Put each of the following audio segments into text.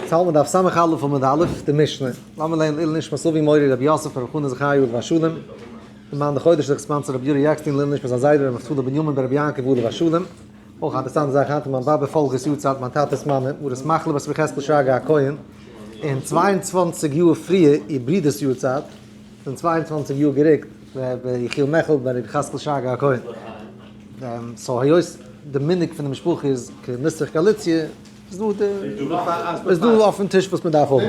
צהל מדף סמך א' עמוד א', די משנה, לאמיר לערנען לעילוי נשמת אבי מורי רבי יוסף רבי חנא זכרי' עליו השלום, למען החודש זיך ספאנסערט רבי יורי עקשטיין לעילוי נשמת זיין זיידע רבי נפתלי בנימין בן רבי יעקב עליו השלום, אויך א אינטערעסאנטע זאך היינט איז מיין באבע פאלגער'ס יארצייט מיין טאטע'ס מאמע מרת מחלה בת רבי יחזקאל שרגא הכהן און צוויי און צוואַנציק יאר פריער איר ברודער'ס יארצייט איז אום צוויי און צוואַנציק יאר גערוקט רבי יחיאל מעכל בן רבי יחזקאל שרגא הכהן, סאו היות די מנהג פון די משפחה איז כנוסח גאליציע. וואס דא אויפן טיש וואס מ'דארף האבן.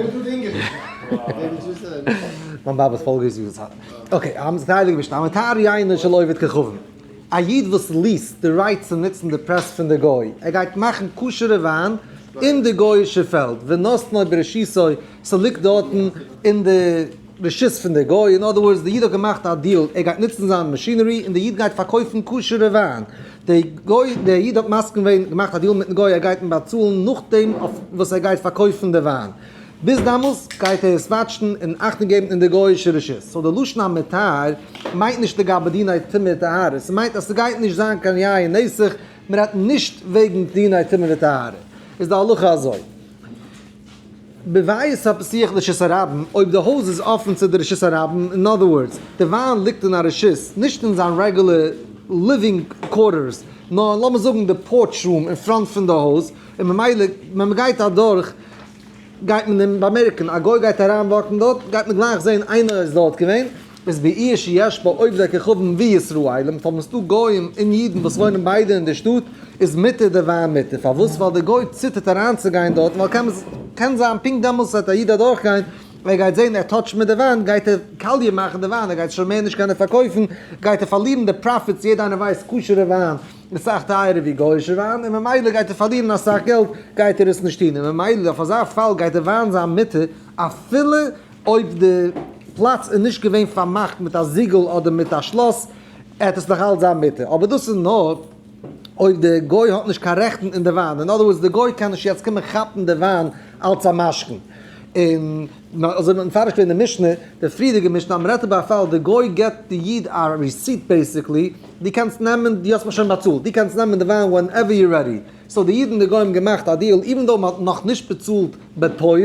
א איד וואס ליעסט די רייט צו נוצן די פרעס פון די גוי, ער גייט מאכן כשר'ע וויין אין די גוי'אישע פעלד, ונתנה ברשותו, ס'ליגט דארטן אין די רשות פון די גוי, אין אדער ווארדס די איד האט געמאכט א דיעל, ער גייט נוצן זיין מאשינערי און די איד גייט פארקויפן כשר'ע וויין, די גוי דער איד האט מסכים געווען געמאכט א דיעל מיטן גוי ער גייט אים באצאלן נאכדעם וואס ער גייט פארקויפן די וויין ביז דאמאלס גייט ער עס וואטשן און אכטונג געבן אין די גויאישע רשות סאו די לשון המותר מיינט נישט לגבי דיני טומאה וטהרה ס'מיינט אז ס'גייט נישט זיין קיין יין נסך מ'רעדט נישט וועגן דיני טומאה וטהרה איז די הלכה אזוי. בבית הפתיח לרשות הרבים, אויב די הויז איז אפען צו די רשות הרבים, אין אדער ווארדס, די וויין ליגט אין א רשות, נישט אין זיין רעגולער ליווינג קווארטערס, נאר אין לאמיר זאגן די פארטש רום אין פראנט פון די הויז, און ממילא ווען מען גייט אדורך גייט מען אים באמערקן, א גוי גייט אריין וואקן דארט, גייט מען גלייך זען איינער איז דארט געווען. איז בעיר שיש בה עובדי כוכבים וישראלים, פארוואס דא גוים און אידן וואס וואוינען ביידע אין די שטאט, איז מותר די וויין מותר, פארוואס ווייל די גוי ציטערט אריינצוגיין דארט ווייל קען קען זיין פונקט דעמאלטס וועט א איד אדורכגיין און ער גייט זען ער טאטשט מיט די וויין גייט ער קאליע מאכן די וויין ער גייט שוין מער נישט קענען פארקויפן גייט ער פארלירן די פראפיטס יעדע איינער ווייסט כשר'ע וויין איז סאך טייערער ווי גוי'שע וויין און ממילא גייט ער פארלירן אסאך געלט גייט ער עס נישט טון און ממילא אויף אזא פאל גייט די וויין זיין מותר אפילו אויב די פלאץ איז נישט געווען פארמאכט מיט א זיגל אדער מיט א שלאס, העט עס נאכאלץ זיין מותר, אבער דאס איז נאר אויב די גוי האט נישט קיין רעכטן אין די וויין, אין אדער ווארדס די גוי קען נישט יעצט קומען כאפן די וויין אלץ א משכון, און אזוי ווי מ'האט מפרש געווען די משנה, די פריערדיגע משנה אז מ'רעדט איבער א פאל די גוי געבט די איד א רעסיט בעיסיקלי, דו קענסט נעמען, דו האסט מיך שוין באצאלט, דו קענסט נעמען די וויין ווענעווער יו רעדי, סאו די איד און די גוי האבן געמאכט א דיעל, איווען דאו מ'האט נאכנישט באצאלט בפועל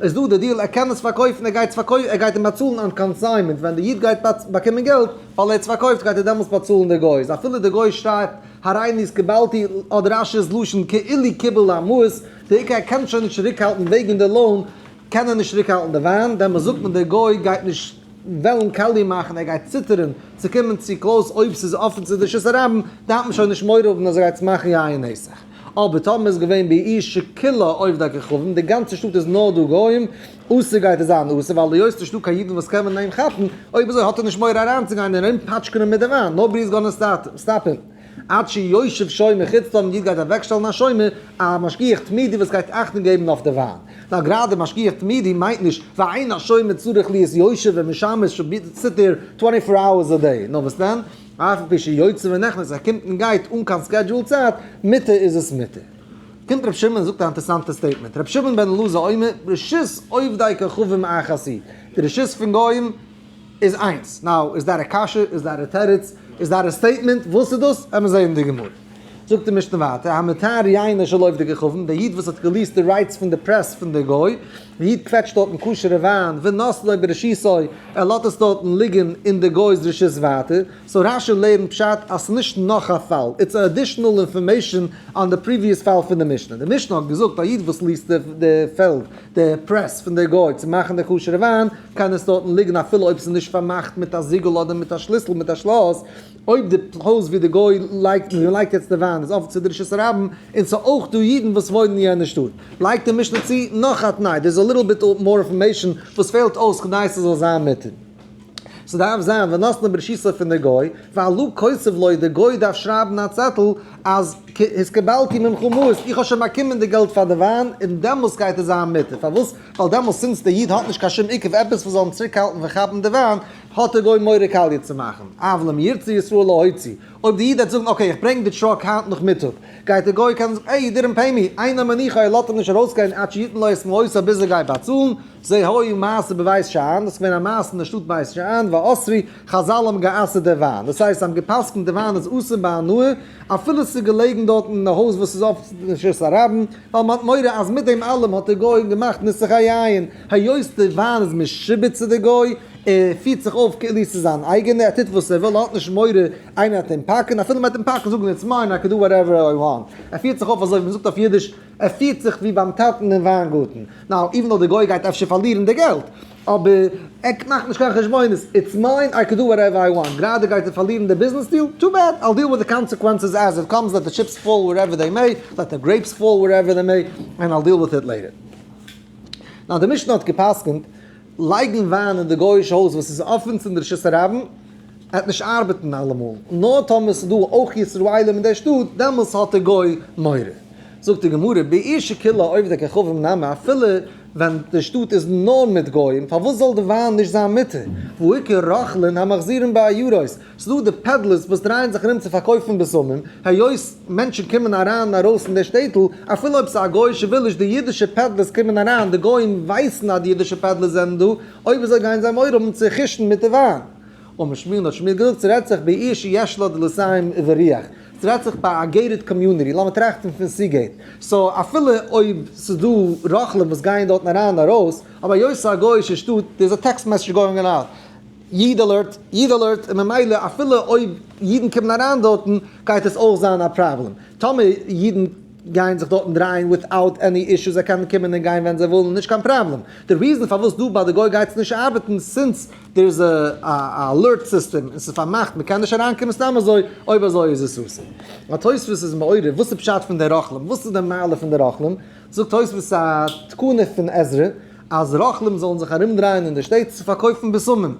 איז דא די דיעל ער קען עס פארקויפן ער גייט עס ער גייט אים באצאלן אן קאנסיינמענט ווען די איד גייט באקומען געלט ווייל ער האט עס פארקויפט גייט ער דעמאלטס באצאלן די גוי איז אפילו די גוי שרייבט הריני אז קיבלתי האט רש י'ס לשון כאילו קיבל המעות די עיקר ער קען שוין נישט צוריקהאלטן וועגן די לאון קען ער נישט צוריקהאלטן די וויין דעמאלטס זאגט מען די גוי גייט נישט וועלן קאליע מאכן ער גייט ציטערן צו קומען צו קלויז אויב ס'איז אפן צו די שעות הרבים דארף מען שוין נישט מורא האבן אז ער גייט עס מאכן יין אין נסך. אבער טאמער איז געווען באי ש כולו אויף די כוכבים, די גאנצע שטאט איז נאר דא גוים, אסור גייט ער זיין אסור, ווייל היות ס'איז נישטא קיין אידן וואס קענען אים כאפן, אויב אזוי האט ער נישט מורא אריינצוגיין און אים פאטשקענען מיט די וויין, נאובאדי איז גאננע סטאפ הים, עד שישב שומר חוץ טאמער אן איד גייט אוועקשטעלן א שומר, א משגיח תמידי וואס גייט אכטונג געבן אויף די וויין. נאר גראדע משגיח תמידי מיינט נישט ואין השומר צריך להיות יושב ומשמש שביתת סיטער טווענטי פאר אווערס א דעי, נאר וואס דען? אף פי שיוצא ונכנס, ער קומט און גייט אן קיין סקעדזשועל צייט, מותר איז עס מותר. קומט ר' שמעון און זאגט א אינטערעסאנטע סטעיטמענט, ר' שמעון בן אלעזר אומר, רשות עובדי כוכבים איין חסיד, די רשות פון גוים איז איינס. נאו, איז דעט א קשיא? איז דעט א תירוץ? איז דעט א סטעיטמענט? וואס איז דאס? העמער זעהן אין די גמרא. זאגט די משנה ווייטער, המתר ייינער של עובדי כוכבים, דער איד וואס האט געליעסט די רייטס פון די פרעס פון די גוי, די איד קוועטשט דארטן כשר'ע וויין ונאסלו בראשיתו, ער לאזט עס דארטן ליגן אין די גוי'ס רשות ווייטער, סאו רש י לערנט פשט אז ס'איז נישט נאך א פאל, איטס א אדישענעל אינפארמעישאן אן די פריוויעס פאל פון די משנה, די משנה האט געזאגט א איד וואס ליזט די פעלד, די פרעס פון די גוי צו מאכן די כשר'ע וויין, קען עס דארטן ליגן אפילו אויב ס'איז נישט פארמאכט מיט א זיגל אדער מיט א שליסל מיט א שלאס, אויב די הויז ווי די גוי לייגט און לייגט יעצט די וויין איז אפן צו דרישת הרבים און ס'איז אויך דא אידן וואס וואוינען אין יענע שטאט, לייגט די משנה צו נאך א תנאי, דער איז א ליטל ביט מאר אינפארמעישן וואס פעלט אויס כדי ס'זאל זיין מותר. ס'דארף זיין ונתנה ברשותו פון די גוי, ווייל לו קוצב ליה די גוי דארף שרייבן א צעטל אז התקבלתי ממך מעות איך האב שוין באקומען די געלט פאר די וויין און דעמאלס גייט עס זיין מותר פארוואס ווייל דעמאלס סינס די איד האט נישט קיין שום עיכוב עפעס וואס זאל אים צוריק האלטן פון כאפן די וויין האט דער גוי מורא קאליע צו מאכן, אוו לעם ירצה ישראל להוציא, אויב די איד העט זאגן אקעי איך ברענג די טראק היינט נאכמיטאג, גייט דער גוי קענען זאגן עי יו דידענט פעי מי, איין א מנוחה ער לאזט אים נישט ארויסגיין עד שיתן לו את מלואו סא ביז ער גייט באצאלן, זה היה מעשה בבית שאן, דאס איז געווען א מעשה אין די שטאט בית שאן, ואסרי, חזל האבן גע'אסר'ט די וויין, דאס הייסט זיי האבן גע'פסק'נט די וויין איז אסור בהנאה, אפילו עס איז געלעגן דארטן אין די הויז וואס איז אפט אין רשות הרבים, ווייל מ'האט מורא אז מיט דעם אלעם האט דער גוי אים געמאכט נוסח א יין, היות דער וויין איז משעבוד צו דער גוי, ער פירט זיך אויף כאילו עס איז זיין אייגענער, ער טוט וואס ער וויל, ער האט נישט מורא איינער וועט אים פאקן, אפילו מען וועט אים פאקן זאגן איטס מיין, איי קען דא וואטעווער איי וואנט, ער פירט זיך אויף אזוי ווי מען זאגט אויף אידיש, ער פירט זיך ווי ביים טאטן אין וויינגארטן, נאו, איווען דאו דער גוי גייט אפשר פארלירן די געלט. אבער ער מאכט נישט קיין חשבונות, איטס מיין, איי קען דא וואטעווער איי וואנט, גראדע גייט ער פארלירן די ביזנעס דיעל, טו בעד, איל דיעל וויט די קאנסעקווענסעס עז איט קאמס, לעט די טשיפס פאל ווערעווער דעי מעי, לעט די גרעיפס פאל ווערעווער דעי מעי, ענד איל דיעל וויט איט לעיטער. נאר די משנה האט געפסקנט, לייגן וויין אין די גוי'אישע הויז וואס איז אפען צום דרשת הרבים, וועט נישט ארבעטן אלעמאל, נאר טאמער ס'דא אויך ישראלים אין די שטאט, דעמאלס האט די גוי מורא. זאגט די גמרא, באיש שכילה עובדי כוכבים נמי, אפילו ווען די שטאט איז נאר מיט גוים, פארוואס זאל די וויין נישט זיין מותר? והעיקר רוכלין המחזירין בעיירות, ס'דא די פעדלערס וואס דרייען זיך ארום צו פארקויפן בשמים, היות מענטשן קומען אריין און ארויס אין די שטעטל, אפילו אויב ס'איז א גוי'אישע ווילעדזש, די אידישע פעדלערס קומען אריין, די גוים ווייסן אז די אידישע פעדלערס זענען דא, אויב אזוי גייען זיי מורא האבן צו כושן מיט די וויין. אמר שמואל האט שמואל געזאגט ס'רעדט זיך בעיר שיש לה דלסיים וריח, סדרייט זיך ביי א געיטעד קאמיוניטי, לאמיר טראכטן פון סיגעיט, סאו אפילו אויב סאיז דא רוכלים וואס גייען דארטן אריין און ארויס, אבער היות סאיז א גויאישע שטאט, דער איז א טעקסט מעסעדזש גאוינג אוט, איד אלערט, איד אלערט, און ממילא אפילו אויב אידן קומען אריין דארטן גייט עס אויך זיין א פראבלעם, טאמער אידן גייען זיך דארטן דרייען וויטאוט עני אישו, זיי קענען קומען און גיין ווען זיי ווילן נישט קיין פראבלעם, די ריזען פארוואס דא ביי די גוי גייט עס נישט ארבעטן סינס דער איז א א אלערט סיסטעם און ס'איז פארמאכט מ'קען נישט אריינקומען סתם אזוי, אויב אזוי איז עס אסור. א תוספות איז מעורר וואס איז פשט פון די רוכלים, וואס איז די מעלה פון די רוכלים, זאגט תוספות א תקנה פון עזרא אז רוכלים זאלן זיך ארום דרייען אין די שטעט צו פארקויפן בשמים,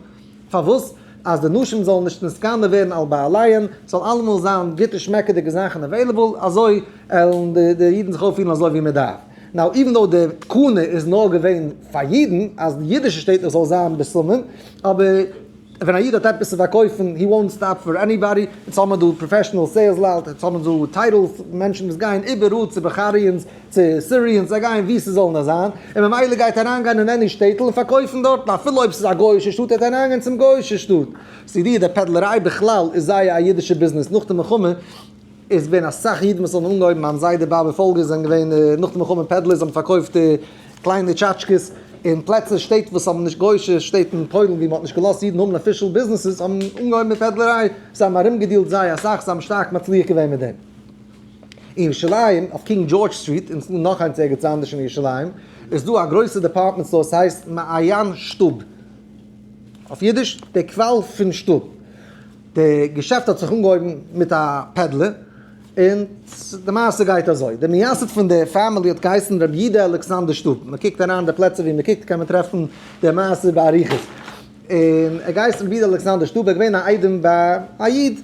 פארוואס? אז די נשים זאלן נישט נתקנא ווערן על בעליהן, ס'זאל אלעמאל זיין גוטע שמעקעדיגע זאכן עוועילעבל, אזוי עלן די אידן זיך אויפפירן אזוי ווי מ'דארף. נאו איווען דאו די תקנה איז נאר געווען פאר אידן אז די אידישע שטעטלעך זאל זיין בשמים אבער ווען א איד האט עפעס צו פארקויפן הי וואנט סטאפ פאר עניבאדי יעצט האבן מיר דא פראפעשענעל סעילס לייט יעצט האבן מיר דא טייטעלס מענטשן וואס גייען איבעראל צו בחריאנס צו סיריענס זיי גייען ווי ס'זאל נאר זיין און ממילא גייט אריינגיין אין עני שטעטל און פארקויפן דארטן אפילו אויב ס'איז א גוי'אישע שטאט וועט ער אריינגיין צום גוי'אישע שטאט סידי די פעדלעריי בכלל איז זייער א אידישע ביזנעס נאך די מלחמה. איז געווען אסאך אידן וואס האבן אנגעהויבן מיין זיידע בייל ווי פאלגער זענען געווען נאך די מלחמה פעדלערס האבן פארקויפט קליינע טשאטשקעס אין פלעצער שטעט וואס האבן נישט גוישע שטעט אין פוילן ווי מען האט נישט געלאזט אידן האבן אפישעל ביזנעסעס האבן אנגעהויבן מיט פעדלעריי זיי האבן ארום געדילט זייער אסאך זיי האבן שטארק מצליח געווען מיט דעם אין ירושלים אויף קינג דזשארדזש סטריט און נאך איינס ערגעץ אנדערש אין ירושלים איז דא א גרויסע דעפארטמענט סטאר עס הייסט מעיין שטוב אויף אידיש די קוואל פון שטוב. די געשעפט האט זיך אנגעהויבן מיט א פעדלער, און די מעשה גייט אזוי, די מייסד פון די פעמילי האט געהייסן ר' יודא אלכסנדר שטוב, מען קוקט אריין די פלעצער ווי מען קוקט קען מען טרעפן די מעשה באריכות, און ער האט געהייסן ר' יודא אלכסנדר שטוב, ער איז געווען א איידעם ביי א איד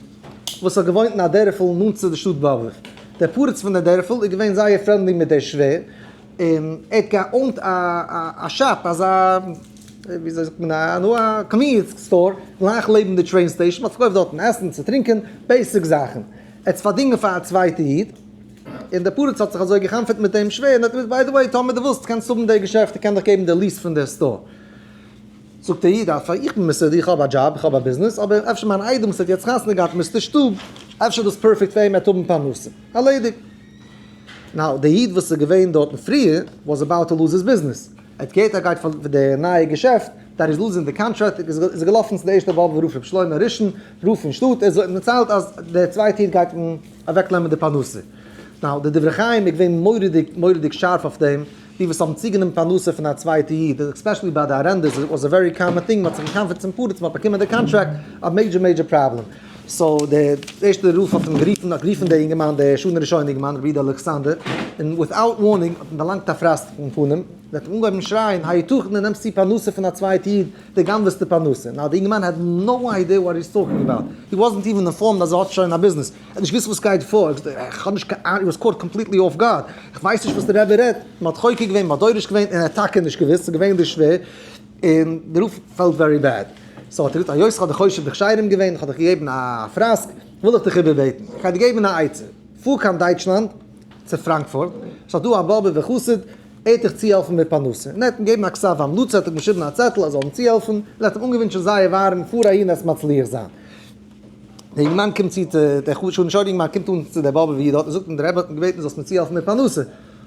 וואס האט געוואוינט אין א דערפל נאנט צו די שטאט באבוב, דער פורץ פון די דערפל איז געווען זייער פרענדלי מיט דער שווער, און ער האט געאונט א שאפ, אזא ווי אזוי זאגט מען א נו א קאנוויניענס סטאר, גלייך לעבן די טרעין סטעישן, האט פארקויפט דארטן עסן צו טרינקען, בעיסיק זאכן, ער האט פארדינגען פאר א צווייטע איד, און דער פרץ האט זיך אזוי גע'חנפ'עט מיט אים שווער, און ער האט געזאגט ביי די וועי טאמער דו ווילסט קענסט האבן די געשעפט, איך קען דיך געבן די ליעס פון די סטאר. זאגט דער איד אויף איך בין מסודר, איך האב א דזשאב, איך האב א ביזנעס, אבער אפשר מיין איידעם וואס האט יעצט חתונה געהאט מיסטער שטוב, אפשר דאס פערפעקט פאר אים, ער וועט האבן פרנסה, ארלעדיגט. נאו, די איד וואס איז געווען דארטן פריער וואס אבאוט טו לוז היז ביזנעס, ער האט געהערט אז ער גייט פארלירן די נייע געשעפט, דעט איז לוזינג די קאנטראקט, איז ער געלאפן צו די ערשטע באבוב רב ר' שלמה הראשון רב פון שטאט, ער האט דערציילט אז די צווייטע איד גייט אים אוועקנעמען די פרנסה, נאו, די דברי חיים איז געווען מורא'דיג מורא'דיג שארף אויף דעם. די וואס האבן צוגענומען פרנסה פון א צווייטע איד, עספעשעלי ביי די ארענדערס, איז וואס א ווערי קאמאן טינג, מען האט זיך געקאנפערט צום פרץ, מען האט באקומען די קאנטראקט, א מעידזשער מעידזשער פראבלעם. סאו די ערשטע רוף האט אים גערופן, האט גערופן דער אינגערמאן, דער שנה ראשונה אינגערמאן, רבי איד אלכסנדר, און וויטאוט ווארנינג האט אים דערלאנגט א פראסק אין פנים, און האט אים אנגעהויבן שרייען, היתכן דו נעמסט צו פרנסה פון א צווייטע איד, דו גנב'סטו פרנסה. נאו די אינגערמאן העד נאו איידיע וואט הי איז טאלקינג אבאוט, הי וואזענט איווען אינפארמד אז ער האט שוין א ביזנעס, ער האט נישט געוויסט וואס גייט פאר, ער האט געזאגט איך האב נישט קיין אנונג, הי וואס קאוט קאמפליטלי אףף גארד, איך ווייס נישט וואס די רבי רעדט, מען האט חוקר געווען, מען האט דורש געווען, און ער האט טאקע נישט געוויסט, ס'איז געווען דער שווער, און דער רב פעלט ווערי בעד, סאו האט ער געזאגט היות איך האב דיך חושב דיך שיירים געווען, איך האב דיך געגעבן א פראסק, וויל איך דיך איבערבעטן, איך גיי דיר געבן א עצה, פאר קיין דייטשלאנד, צו פראנקפורט, ס'איז דא א באבובער חסיד, ער וועט דיך צוהעלפן מיט פרנסה, און ער האט אים געגעבן א כסף המלצה, האט אים געשריבן א צעטל אז ער זאל אים צוהעלפן, און ער האט אים אנגעווינטשן זייער ווארעם פאר אהין עסט מצליח זיין. דער יונגנמאן קומט צו צו דער חשובע אנטשוידיגונג מען קומט אן צו דער באבע ווי דארט און זאגט אים דער רבי האט מיך געבעטן זאלסט מיר צוהעלפן מיט פרנסה,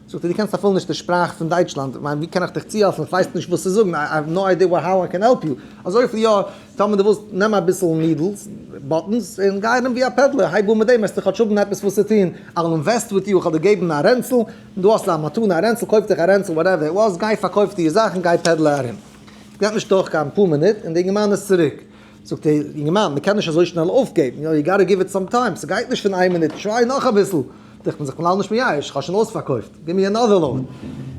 זאגט ער דו קענסט אפילו נישט די שפראך פון דייטשלאנד, איך מיין ווי קען איך דיך צוהעלפן איך ווייס נישט וואס צו זאגן איי האוו נאו איידיע האו איי קען העלפ יו, אזויפיל יא טאמער דו ווילסט נעם אביסל נידלס, באטנס, און גיי ארום ווי א פעדלער הייב אן מיט דעם וועסטו כאטש האבן עפעס וואס צו טון, איי וויל אינוועסט וויט יו איך האב דיר געבן א רענצל, דא האסטו א מתנה א רענצל קויף דיך א רענצל וואטעווער איט וואס גיי פארקויף דיר זאכן גיי פעדלער ארום, געבט נישט דורך קיין פאר מינוט און דער יונגנמאן איז צוריק. זאגט ער, יונגערמאן, מ'קען נישט אזוי שנעל אויפגעבן, יו גאטע גיוו איט סאם טיים, ס'גייט נישט פון איין מינוט, טריי נאך אביסל, דאכט מען זיך כ'בין לאנג נישט מייאש, כ'האב שוין אויספארקויפט, גיב מיר אנאדער לאוד,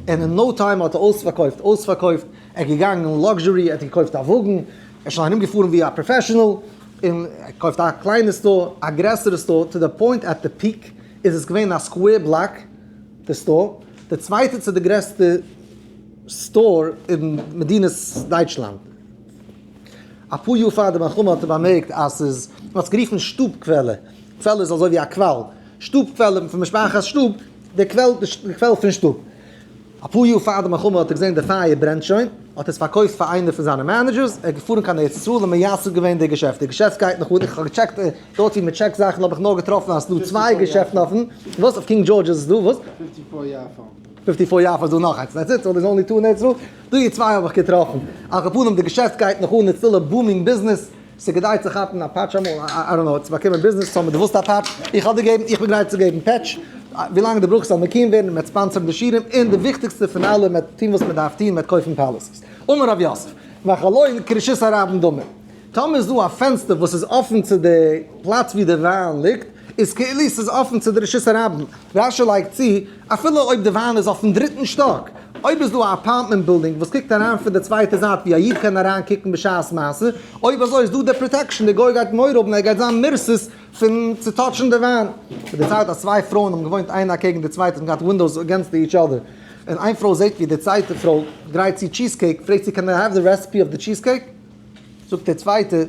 און אין נאו טיים האט ער אויספארקויפט, אויספארקויפט, ער איז געגאנגען אין לאקזשערי, ער האט געקויפט א וואגן, ער איז שוין ארום געפארן ווי א פראפעשענעל, און ער קויפט א קליינע סטאר, א גרעסערע סטאר, טו די פוינט עט די פיק איז עס געווען א סקווער בלאק די סטאר, די צווייטע צו די גרעסטע סטאר אין מדינת דייטשלאנד. אפאר יאר פאר די מלחמה האט ער באמערקט אז ס'איז, מען האט עס גערופן שטוב קוועלער, קוועלער איז אזוי ווי א קוואל, שטוב קוועלער פון משפחת שטוב, די קוועל, די קוועל פון שטוב. אפאר יאר פאר די מלחמה האט ער געזען די פייער ברענט שוין, האט ער עס פארקויפט פאר איינער פון זיינע מענעדזשערס, ער איז געפארן קיין ארץ ישראל און מייסד געווען די געשעפט, די געשעפט גייט נאך אן, איך האב געטשעקט דארט ווי מען טשעקט זאכן האב איך נאר געטראפן אז ס'איז דא צוויי געשעפטן אפן, וואס? אויף קינג דזשארדזש איז עס דא? וואס? פיפטי פאר יאר פאר זאל נאך איינס דעטס איט סאו עס איז אנלי טו נעטס די צוויי האב איך געטראפן על כל פנים די געשעפט גייט נאך אן און סטיל א בומינג ביזנעס סאיז כדאי צו כאפן א פאטש אמאל איי דאנט נאו צו באקומען ביזנעס סאו דו ווילסט א פאטש איך האב דיר געבן איך בין גרייט צו געבן פעטש ווילאנג דו ברויכסט זאל מקים ווערן מ'עט ספאנסערן די שירעם און די וויכטיגסטע פון אלע מ'עט טון וואס מ'דארף טון מ'עט קויפן פאליסיס אמר רב יוסף מאחלוין כרשות הרבים דאמר טאמער איז דא א פענסטער וואס איז אפען צו די פלאץ ווי די וויין ליגט, איז כאילו ס'איז אפען צו די רשות הרבים. רש י לייגט צו, אפילו אויב די וויין איז אויפן דריטן שטאק, אויב איז דא א אפארטמענט בילדינג וואס קוקט אריין פון די צווייטע זייט ווי א איד קען אריין קוקן בשעת מעשה, אויב אזוי איז דא די פראטעקשן, די גוי גייט מורא האבן אז ער גייט זיין מרסס פון צו טאטשן די וויין. מען דערציילט אז צוויי פרויען האבן געוואוינט איינע אקעגן די צווייטע, און געהאט ווינדאוס אגענסט די איטש אדער, און איין פרוי זעט ווי די צווייטע פרוי גרייט צו טשיז קעיק, פרעגט זי קען איי העוו די רעסעפי אויף די טשיז קעיק? זאגט דער צווייטער,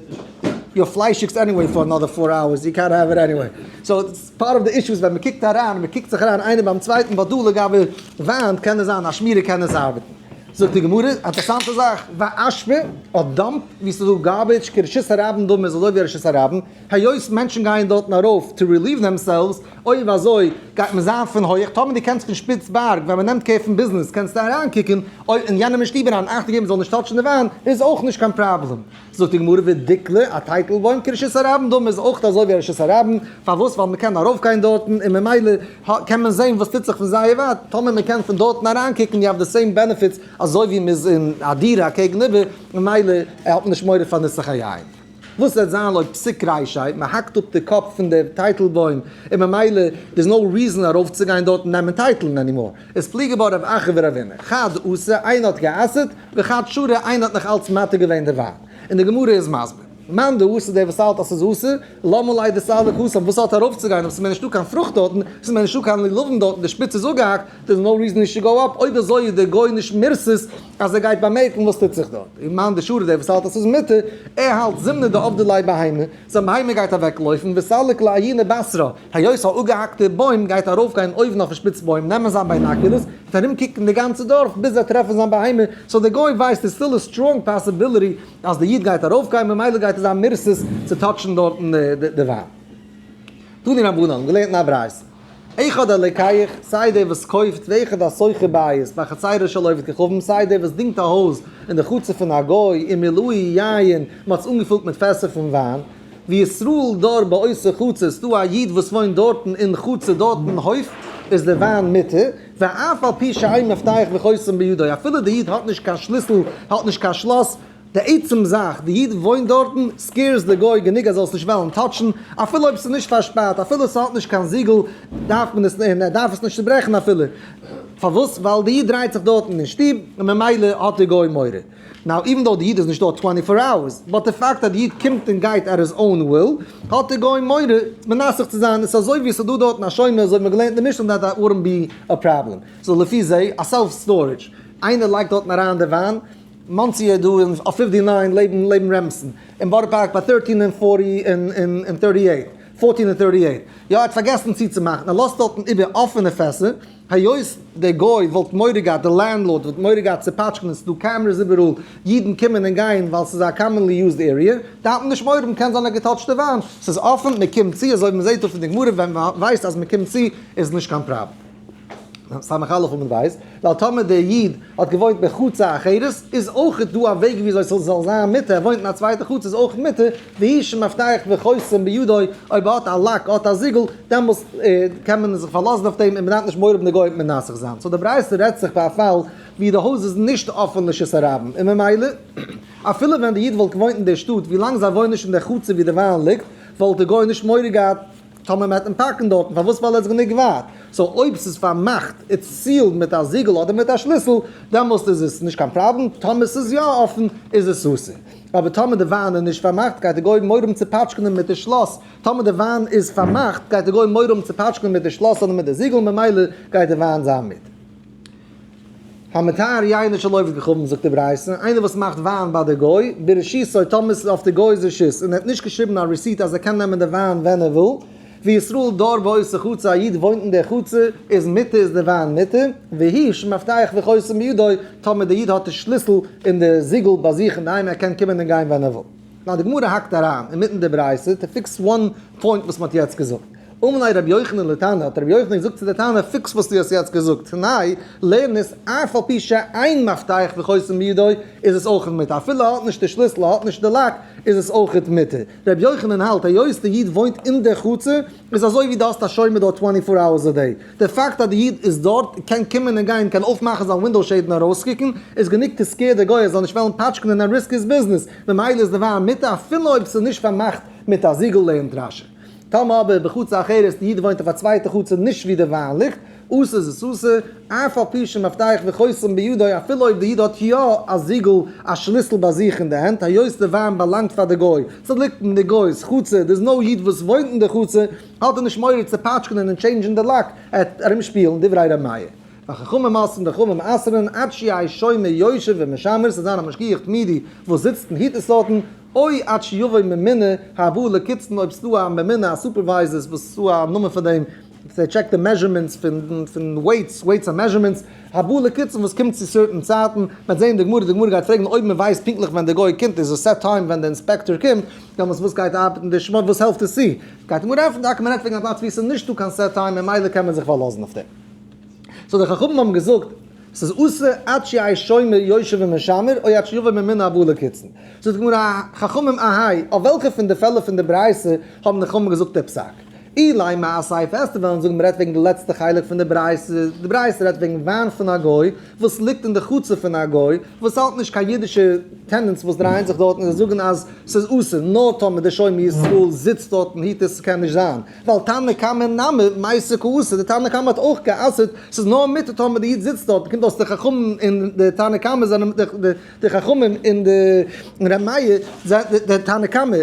יו אר פליישיגס עניוועי פאר אנאדער פאר אווערס, יו קענט העוו איט עניוועי. סאו איטס פארט אוו די אישו איז ווען מען קוקט אריין, מען קוקט זיך אריין איינער ביים צווייטן, בה דא לגבי וויין קען עס זיין א שמירה קען עס ארבעטן. זאגט די גמרא א אינטערעסאנטע זאך, וויי אשפה אדער דאמפ ווי ס'איז דא גארבידזש, כרשות הרבים דאן איז אזוי ווי רשות הרבים, היות מענטשן גייען דארטן ארויף טו רעליוו דעמסעלווס, אויב אזוי גייט מען זיין פון הויך, טאמער דו קענסט פון שפיץ בארג ווען מען נעמט קער פון ביזנעס קענסטו אריין קוקן, אויב אין יענעמען שטוב אריין אכטונג געבן זאל נישט טאטשן די וויין איז אויך נישט קיין פראבלעם. זאגט די גמרא ודיקלה א טייטלבוים כרשות הרבים דאן איז אויך אזוי ווי רשות הרבים, פארוואס ווייל מען קען ארויף גיין דארטן און ממילא קען מען זען וואס טוט זיך פון זייער ווייט, טאמער מען קען פון דארטן אריין קוקן יו האוו די סעים בענעפיטס אזוי ווי מען איז אין א דירה אקעגן איבער ממילא האט מען נישט מורא פאר נוסח היין. וואס וועט זיין לויט פסק ר' ישעי'? מען האקט אפ די קאפ פון דער טייטלבוים און ממילא איז נאו ריזען ארויפצוגיין דארט און נעמען טייטלן ענימאר. איז פליג געווארן רב אחר ורב עמך. חד עשה, איינער האט גע'אסר'ט, וחד שרע, איינער האט נאכאלץ מתיר געווען די וויין. און די גמרא איז מסביר. מאן דאסר, דער וואס האלט אז ס'איז אסור, למה ליה דסר לחסום, וואס האט ער ארויפצוגיין אויב ס'איז מער נישטא קיין פרוכט דארטן, ס'איז מער נישטא קיין לולבים דארטן, די שפיץ איז אפגעהאקט, דער איז נאו ריזען נישט צו גאו אפ, אויב אזוי איז דער גוי נישט מרסס, אז ער גייט באמערקן וואס טוט זיך דארט, און מאן דשאר דער וואס האלט אז ס'איז מותר, ער האלט זומנא דעובדעלאי בהמה, זיין בהמה גייט אוועקלויפן, וסלק לה הינה בשרה, היות א אפגעהאקטע בוים גייט ארויפגיין אויבן אויפן שפיץ בוים, נעמען זיין ביינאקולערס, וועט ארום קוקן די גאנצע דארף ביז ער טרעפן זיין בהמה, סאו דער גוי ווייסט איז סטיל א סטראנג פאסיביליטי אז דער איד גייט ארויפגיין ממילא גייט עס זיין מרסס צו טאטשן דארטן די וויין. תני רבנן, געלערנט אין א ברייתא. איחוד אלקיך, סיי דער וואס קויפט ואיחוד השוכר בית בחצרו של עובד כוכבים, סיי דער וואס דינגט א הויז אין די חצר פון א גוי און מילוי יין, מען האט עס אנגעפולט מיט פעסער פון וויין, וישראל דור באותו חצר, עס איז דא א איד וואס וואוינט דארטן אין חצר דארטן אין הויף איז די וויין מותר, ואף על פי שאין מפתח וחותם בידו, אפילו דער איד האט נישט קיין שליסל, האט נישט קיין שלאס, די עצם זאך די איד וואוינט דארטן סקעירס די גוי גענוג אז זאלסט נישט וועלן טאטשן, אפילו אויב ס'איז נישט פארשפארט, אפילו ס'האט נישט קיין זיגל דארף מען עס און ער דארף עס נישט צוברעכן אפילו, פארוואס? ווייל די איד דרייט זיך דארטן אין שטוב און ממילא האט די גוי מורא. נאו איווען דאו די איד איז נישט דארט טווענטי פאר אווערס, באט די פאקט אז די איד קומט און גייט עט היז אוין וויל, האט די גוי מורא מנסך צו זיין, עס איז אזוי ווי עס איז דא דארטן א שומר אזוי האט מען געלערנט אין משנה דעט וואלט בי א פראבלעם, סאו לפי זה א סעלף סטארעדזש איינער לייגט דארטן אריין די וויין, מאנסי איז דא און אויף פיפטי ניין לעבן לעבן רעמסן און בארא פארק ביי טערטין און פארטי און און טערטי עיט פארטין און טערטי עיט יא ער האט פארגעסן צוצומאכן ער לאזט דארטן איבער אפענע פעסער היות דער גוי וואלט מורא געהאט די לענדלארד וואלט מורא געהאט צו פאטשקענען ס'דא קעמרעס איבעראל אידן קומען און גיין ווייל ס'איז א קאמענלי יוזד עריע דארף מען נישט מורא האבן קען זיין א געטאטשטע וואן ס'איז אפען מ'קומט צו אזוי ווי מ'זעהט דא פון די גמרא ווען מ'ווייסט אז מ'קומט צו איז נישט קיין פראבלעם. סמך א' וואו מען ווייסט, ווייל טאמער דער איד האט געוואוינט אין חצר אחרת, איז אויך דא א וועג וויאזוי ס'זאל זיין מותר, ער וואוינט אין א צווייטע חצר איז אויך מותר, והיא שמבטחת וחותם בידו, אויב ער האט א לאק, ער האט א זיגל, דעמאלס קען מען זיך פארלאזן אויף דעם און מען דארף נישט מורא פון די גויים מנסך זיין. סאו די ברייתא רעדט זיך ביי א פאל ווי די הויז איז נישט אפען לרשות הרבים, און ממילא אפילו ווען דער איד וואלט געוואוינט אין דער שטאט, ווילאנג זיי וואוינען נישט אין דער חצר וואו די וויין ליגט, וואלט די גוי נישט מורא געהאט. טאמער מען וועט אים פארקן דארטן פארוואס ווייל ער איז גענוג ווייט, סאו אויב ס'איז פארמאכט איז סיעלד מיט א זיגל אדער מיט א שליסל דעמאלסט איז עס נישט קיין פראבלעם, טאמער ס'איז יא אפן איז עס אסור, אבער טאמער די וויין איז נישט פארמאכט גייט די גוי מורא האבן צו פאטשקענען מיט די שלאס, טאמער די וויין איז פארמאכט גייט די גוי מורא האבן צו פאטשקענען מיט די שלאס אדער מיט די זיגל ממילא גייט די וויין זיין מיט. המתאר יין אשר לא יבדקך אבן זאגט די ברייתא, איינער וואס מאכט וויין ביי די גוי, ברשותו, טאמער עס איז אויף די גוי'ס רשות, און ער האט נישט געשריבן א רעסיט אז ער קען נעמען די וויין ווען ער וויל, וישראל דור ועושה חוצה, א איד וואוינט אין דער חצר, איז מותר איז די וויין מותר, והי' שמפתח וחותם בידו, טאמער דער איד האט די שליסל און די זיגל ביי זיך אינדערהיים ער קען קומען און גיין ווען ער וויל. נאר די גמרא האקט אריין אינמיטן די ברייתא טו פיקס וואן פוינט וואס מ'האט יעצט געזאגט. אמלי רבי יוחנן לתנא, האט רבי יוחנן געזאגט צו די תנא פיקס וואס דו האסט יעצט געזאגט, תנאי, לערן עס אף על פי שאין מפתח וחותם בידו איז עס אויכעט מותר, אפילו ער האט נישט די שליסל ער האט נישט די לאק איז עס אויכעט מותר. רבי יוחנן האלט היות די איד וואוינט אין די חצר איז אזוי ווי דו האסט א שומר דארט טווענטי פאר אוערס א דעי, די פאקט אז די איד איז דארט און קען קומען און גיין און קען אויפמאכן זיין ווינדאו שעיד און ארויסקוקן איז גענוג צו סקעיר די גוי ער זאל נישט וועלן פאטשקענען און ריסק היז ביזנעס, ממילא איז די וויין מיתה אפילו אויב ס'איז נישט פארמאכט מיט א זיגל לענ ד רשי. טאמער אבער בחצר אחרת די איד וואוינט אויף א צווייטע חצר נישט ווי די וויין ליגט, אסור איז עס אסור, אף על פי שמפתח וחותם בידו אפילו אויב די איד האט יא א זיגל א שליסל ביי זיך אין די הענט היות די וויין באלאנגט פאר די גוי ס'ליגט אין די גוי'ס חצר דער איז נאו איד וואס וואוינט אין די חצר, האט ער נישט מורא צו פאטשקענען און טשעינדזשען די לאק, ער וועט ארום שפילן דברי ר' מאיר, והחכמים אסרן וחכמים אסרן, עד שיהי' שומר יושב ומשמר, ס'זאל זיין א משגיח תמידי וואס זיצט און היט עס אטן, אוי עד שיבוא ממונה הבא לקצתן אויב ס'איז דא א ממונה א סופערווייזער וואס איז דא א נאמען פאר דעם וואס ער טשעקט די מעזשערמענטס פון וועיטס, וועיטס און מעזשערמענטס, הבא לקצתן וואס קומט צו סערטען צייטן, מ'וועט זעהן די גמרא, די גמרא גייט פרעגן אויב מ'ווייסט פונקטליך ווען די גוי קומט, איז עס סעט טיים ווען די אינספעקטאר קומט, דעמאלטס וואס גייט ארבעטן די שמות, וואס העלפט עס צו? גייט אים אנרופן טאקע מען רעדט וועגן א פלאץ ווי עס איז נישטא קיין סעט טיים ממילא קען מען זיך פארלאזן אויף דעם סאו די חכמים האבן געזאגט ס'איז אסור עד שיהי' שומר יושב ומשמר או עד שיבוא ממנה הבא לקצין זאגט די גמרא חכמים אהי' אויף וועלכע פון די פעלער פון די ברייתא האבן די חכמים געזאגט די פסק אילאי מאי אסיפה עסטער וועלן זאגן מען רעדט וועגן די לעצטע חלק פון די ברייתא די ברייתא רעדט וועגן וויין פון א גוי וואס ליגט אין די חצר פון א גוי וואס האלט נישט קיין אידישע טענענטס וואס דרייען זיך דארטן זיי זאגן אז ס'איז אסור נאר טאמער דער שומר ישראל זיצט דארט און היט עס ס'קען נישט זיין ווייל תנא קמא נמי מעשה כאסור דער תנא קמא האט אויך גע'אסר'ט ס'איז נאר מותר טאמער די איד זיצט דארט מ'קומט אויס די חכמים און די תנא קמא זענען די חכמים און די רמיה די תנא קמא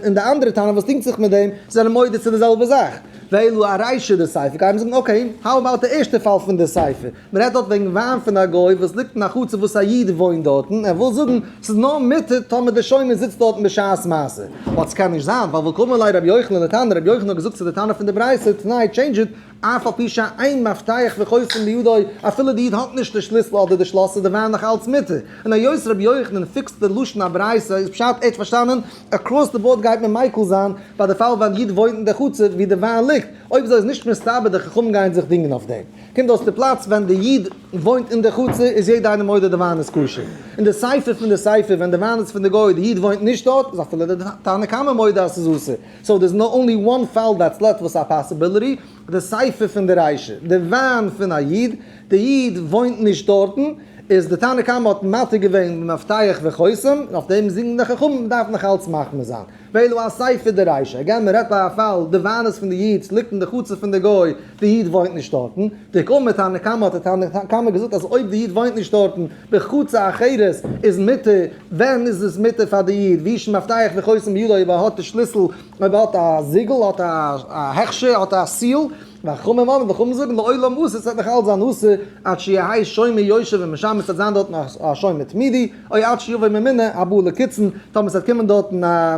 און די אנדערע תנא וואס דינגט זיך מיט דעם זענען מודה צו די זעלבע זאך ואלו הרישא דסייפא גייען מיר זאגן אקעי האו אבאוט די ערשטע פאל פון די סייפא מען רעדט דארט וועגן וויין פון א גוי וואס ליגט אין א חצר וואס א איד וואוינט דארטן, ער וויל זאגן ס'איז נאר מותר טאמער דער שומר זיצט דארטן בשעת מעשה, אבער ס'קען נישט זיין ווייל וואו קאמר ליה רבי יוחנן לתנא, רבי יוחנן האט געזאגט צו די טענה פון די ברייתא, תנאי טשעינדזש איט, אף על פי שאין מפתח וחותן בידו, אפילו די איד האט נישט די שליסל אדער די שלאס איז די וויין נאך אלץ מותר, און היות רבי יוחנן פיקסט די לשון הברייתא איז פשט ערשט פארשטאנען, עקראס די באורד גייט מען מיקל זיין ביי די פאל ווען איד וואוינט אין די חצר ווי די וויין ליגט, אויב אזוי איז נישט מסתבר די חכמים גייען זיך דינגען אויף דעם. אין דאס די פלאץ ווען די איד וואוינט אין די חצר איז יעדע איינער מודה די וויין איז כשר, אין די ספר פון די ספר ווען די וויין איז פון די גוי די איד וואוינט נישט דארט איז אפילו די תנא קמא מודה אז ס'איז אסור, סאו דער איז נאר אנלי וואן פאל דעטס לעפט וואס א פאסיביליטי, די ספר פון די ריישע, די וויין פון א איד, די איד וואוינט נישט דארטן, איז די תנא קמא האט מתיר געווען במפתח וחותם, און אויף דעם זינגן די חכמים מ'דארף נאך אלץ מחמיר זיין. ואילו א ספר דריישא הגם מען רעדט ביי א פאל די וויין איז פון די אידס ליגט אין די חצר פון די גוי די איד וואוינט נישט דארטן די ק מ תנא קמא האט די תנא קמא געזאגט אז אויב די איד וואוינט נישט דארטן בחוצה אחרת איז מותר ווען איז עס מותר פאר די איד ווי ש מפתח וחותם בידו אויב ער האט די שליסל אויב ער האט א זיגל האט א הכשר האט א סיעל וחכמים אמרו, וחכמים זאגן, לעולם מוסר ס'וועט נאך אלץ זיין אסור, עד שיהי' שומר יושב ומשמר ס'וועט זיין דארטן א שומר תמידי, אוי עד שיבוא ממונה הבא לקצין, טאמער ס'וועט קומען דארטן א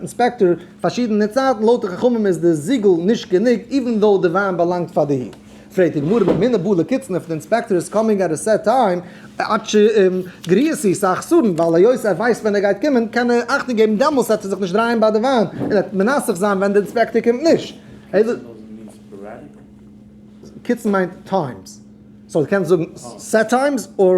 אינספעקטאר פארשידענע צייטן, לויט די חכמים איז די זיגל נישט גענוג, איווען דאו די וויין באלאנגט פאר די הי. פרעגט די גמרא, ממונה הבא לקצין, איף די אינספעקטאר איז קאמינג עט א סעט טיים, עד ש גריע סי' סאך סארן, ווייל היות ער ווייסט ווען ער גייט קומען, קען ער אכטונג געבן דעמאלס עט ער זיך נישט דרייען ביי די וויין, און עט מנסך זיין ווען די אינספעקטאר קומט נישט. קיצן מיינט טיימס, סאו דו קענסט זאגן סעט טיימס אור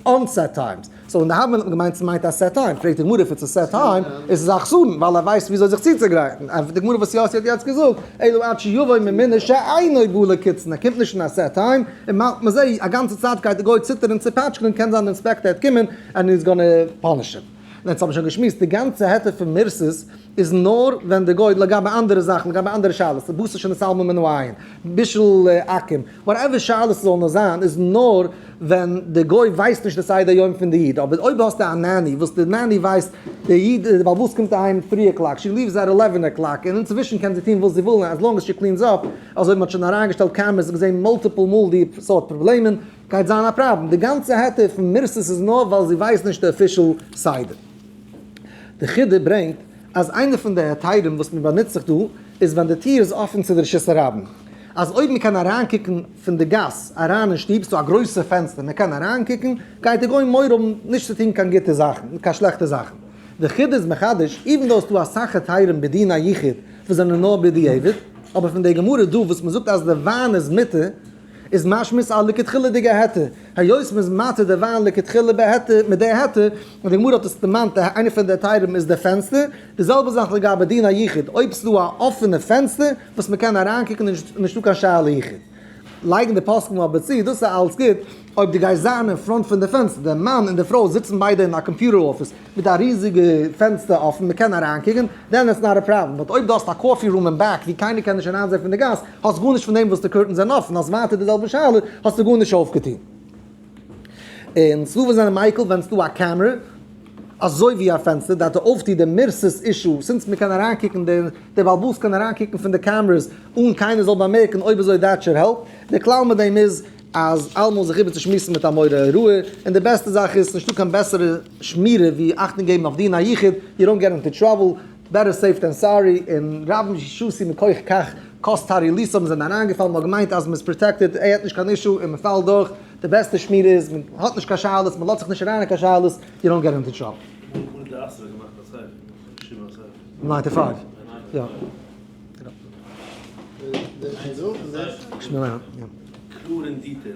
אנסעט טיימס, סאו די האבען געמיינט ס'מיינט א סעט טיים, פרעגט די גמרא אויב ס'איז סעט טיים איז עס א חסרון ווייל ער ווייסט וויאזוי זיך צוצוגרייטן, ענטפערט די גמרא וואס יאסי האט יעצט געזאגט, אלא עד שיבוא ממנה שאינו בא לקיצן, ער קומט נישט אין א סעט טיים, און מאכט מזה א גאנצע צייט גייט די גוי ציטערן און צופאטשקען און קען זיין די אינספעקטער העט קומען ענד איז גאנע פאניש אים. און עטס האב מיר שוין געשמועסט, די גאנצע העטה פון מרסס איז נאר ווען די גוי, לגבי אנדערע זאכן, לגבי אנדערע שאלות, בשר שני סלמא מינו עין, בישול עכום, וואטעווער שאלות עס זאל נאר זיין, איז נאר ווען די גוי ווייסט נישט די סדר יום פון די איד, אבער אויב האסטו א נעני וואס די נעני ווייסט, די איד, די בעלבאס קומט אהיים טרי אקלאק, שי ליווס עט עלעווען אקלאק, און אינצווישן קען זי טון וואס זי וויל אז לאנג עז שי קלינס אפ, אזוי מען האט שוין אריינגעשטעלט קעמערעס און געזען מולטיפל מאל די סארט פראבלעמען, גייט זיין א פראבלעם, די גאנצע העטער פון מרסס איז נאר ווייל זי ווייסט נישט די אפישעל סדר. די חידא ברענגט אז איינע פון די היתרים וואס מען באנוצט זיך דא איז ווען די טיר איז אפען צו די רשות הרבים, אז אויב מען קען אריינקוקן פון די גאס אריין אין שטוב, ס'דא א גרויסע פענסטער מען קען אריינקוקן, גייט די גוי מורא האבן נישט צו טון קיין גוטע זאכן, קיין שלעכטע זאכן. די חידא איז מחדש, איווען דאו ס'דא אסאך היתרים בדין היחיד וואס זענען נאר בדיעבד, אבער פון די גמרא דא וואס מען זאגט אז די וויין איז מותר, איז משמעות א לכתחילה'דיגע היתר, היות מ'איז מתיר די וויין לכתחילה בהיתר מיט די היתר, און די גמרא האט עס דערמאנט א איינע פון די היתרים איז די פענסטער, די זעלבע זאך לגבי דין היחיד, אויב ס'דא א אפענע פענסטער וואס מ'קען אריינקוקן איז נישטא קיין שאלה יחיד. לייגן די פוסקים אבער צו, דאס איז אלץ גוט אויב דו גייסט זיין אין פראנט פון די פענסטער, די מאן און די פרוי זיצן ביידע אין א קאמפיוטער אפיס, מיט א ריזיגע פענסטער אפען מ'קען אריינקוקען, דען איטס נאט א פראבלעם, באט אויב דו האסט א קאפי רום אין בעק ווי קיינער קען נישט אריינזעהן פון די גאס, האסט גארנישט פון דעם וואס די קורטענס זענען אפען, האסט ווייטער די זעלבע שאלה, האסטו גארנישט אויפגעטוהן. און ס'דא וואס זענען מיקל ווען ס'דא א קעמרע אזוי ווי א פענסטער דארף די אויפטוה די מירסעס אישו, סינס מ'קען אריינקוקען די בעל הבית קען אריינקוקען פון די קעמרעס אן קיינער זאל באמערקען אויב אזוי דעטשער העלפ, די כלל מיט דעם איז אז אלעמאל זיך איבערצושמועסן מיט א מורה הוראה, און די בעסטע זאך איז, ס'נישטא קיין בעסערע שמירה ווי אכטונג געבן אויף דיר אין א יחיד, יו דאנט געט אינטו טראבל, בעטער סעיף דען סארי, און רבים שעשו מכח כך, קאסט הארי ליסא מ'איז אים אריינגעפאלן, מ'האט געמיינט אז מ'איז פראטעקטעד, ער האט נישט קיין אישו און מ'פאלט דורך, די בעסטע שמירה איז, מ'האט נישט קיין שאלות, מ'לאזט זיך נישט אריין אין קיין שאלות, יו דאנט געט אינטו טראבל. ניינטי פייוו? יא. קלאר און דיטעילד.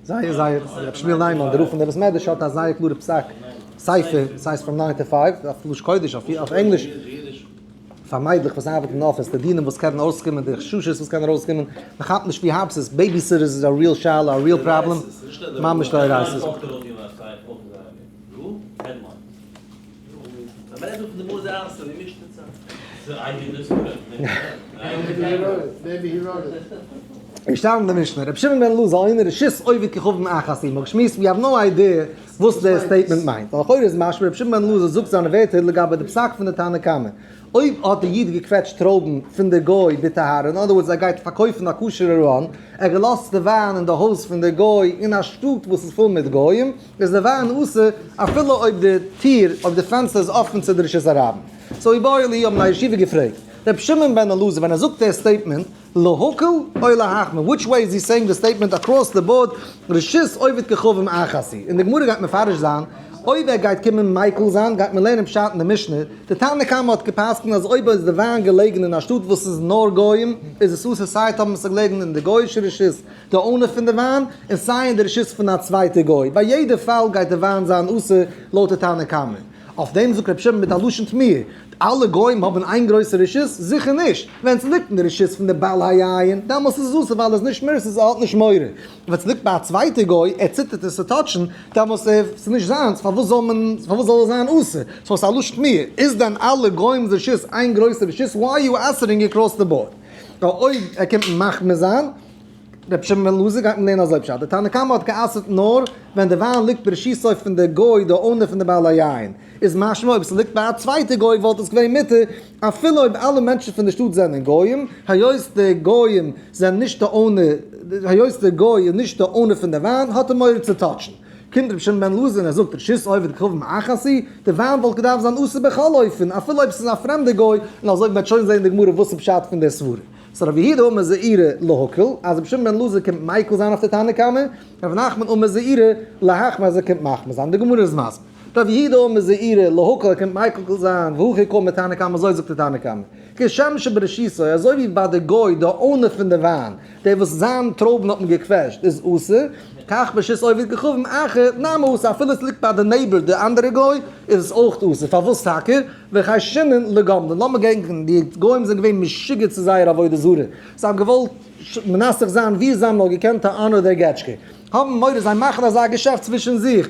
זייער זייער, רבי שמואל ניימאן דער רב פון דער בית מדרש האט א זייער קלארע פסק ספר, סאיז פראם ניין טו פייוו, אויף לש קודש אויף ענגליש, פאר מיידלעך וואס ארבעטן אין אפיס, די דינים וואס קענען ארויסקומען, די חששות וואס קענען ארויסקומען, מען כאפט נישט ווי הארב סאיז, בעיבי סיטערס איז א ריעל שאלה, א ריעל פראבלעם, ממש דאורייתא. געשטאנען די משנה, רבי שמעון בן אלעזר הנה רשות עובד ככבן אחז עמו גשמיות ווי האב נאו איידיע וואס די סטעיטמענט מיינט אבער לכאורה איז משמע רבי שמעון בן אלעזר זאגט זיינע ווערטער לגבי די פסק פון די תנא קמא אויב האט די איד געקוועטשט טרויבן פון די גוי בטהרה אין אדער ווארדס ער גייט פארקויפן א כשר'ע ראן ער האט געלאזט די וויין אין די הויז פון די גוי אין א שטאט וואס איז פול מיט גוים איז די וויין אסור אפילו אויב די טיר אויב די פענסטער איז אפען צו די רשות הרבים? סאו אי בואי לי האבן א ישיבה געפרעגט רבי שמעון בן אלעזר ווען ער זאגט דער סטעיטמענט להקל אוי להחמיר וויטש וועי איז הי סעיאינג די סטעיטמענט אקראס די באורד רשות עובד ככאובים אחת און די גמרא גייט מפרש זיין אויב ער גייט קומען מיקל זיין גייט מען לערנען פשט אין די משנה די תנא קמא האט געפסקנט אז אויב איז די וויין געלעגן אין א שטאט וואס איז נאר גוים איז עס אסור סיי טאמער ס'געלעגן אין די גויאישע רשות די אונער פון די וויין, און סיי אין די רשות פון א צווייטע גוי, ביי יעדע פאל גייט די וויין זיין אסור לויט די תנא קמא. אויף דעם זאגט רבי שמעון מיט א לשון תמיהה, אלע גוים האבן איין גרויסע רשות? זיכער נישט! ווען עס ליגט אין די רשות פון די בעל היין, דאמאלס איז עס אסור ווייל ער איז נישט מרוצה סאו ער האט נישט מורא, און ווען עס ליגט ביי א צווייטע גוי, ער ציטערט עס צו טאטשן, דאמאלס ער, עס איז נישט זיינס, פארוואס זאל מען, פארוואס זאל עס זיין אסור? סאו ס'איז א לשון תמיהה, איז דען אלע גוים'ס רשות איין גרויסע רשות? וואי אר יו אסערינג אקראס די באורד? ווייל אויב ער קומט מחמיר זיין. רבי שמעון בן אלעזר גייט מען לערנען אזוי פשט, די תנא קמא האט גע'אסר'ט נאר ווען די וויין ליגט בראשיתו פון די גוי די אונער פון די בעל היין, איז משמע אויב ס'ליגט ביי א צווייטע גוי וואלט עס געווען מותר אפילו אויב אלע מענטשן פון די שטאט זענען גוים, היות די גוים זענען נישט די אונער, היות די גוי איז נישט די אונער פון די וויין האט ער מורא צו טאטשן. קומט רבי שמעון בן אלעזר און ער זאגט רשות עובד כחוב מאחסי, די וויין וואלט געדארפט זיין אסור בכל אופן אפילו אויב ס'איז א פרעמדע גוי, און אזוי וועט שוין זען די גמרא וואס איז פשט פון די סברא. סא רבי יהודה אומר זעירא להקל אז רבי שמעון בן אלעזר קומט מיקל זיין אויף די תנא קמא, און רבי נחמן אומר זעירא להחמיר אז ער קומט מחמיר זיין, די גמרא איז מסביר. רבי יהודה אומר זעירא להקל ער קומט מיקל זיין והכי קל מתנא קמא אזוי זאגט די תנא קמא. כשם שבראשיתו אזוי ווי ביי די גוי די אונער פון די וויין, דער וואס זיין טרויבן האט מען געקוועטשט איז אסור, כך בשיטת עובד כוכבים אחר נמי אסור אפילו עס ליגט ביי די נעיבער די אנדערע גוי איז עס אויך אסור, פארוואס טאקע? וחשינן לגמלין, לאמיר געדענקן, די גוים זענען געווען משוגע צו זייער עבודה זרה, זיי האבן געוואלט מנסך זיין ווי זיי האבן נאר געקענט א אנא דער געטשקע, האבן מורא זיי מאכן אזא געשעפט צווישן זיך,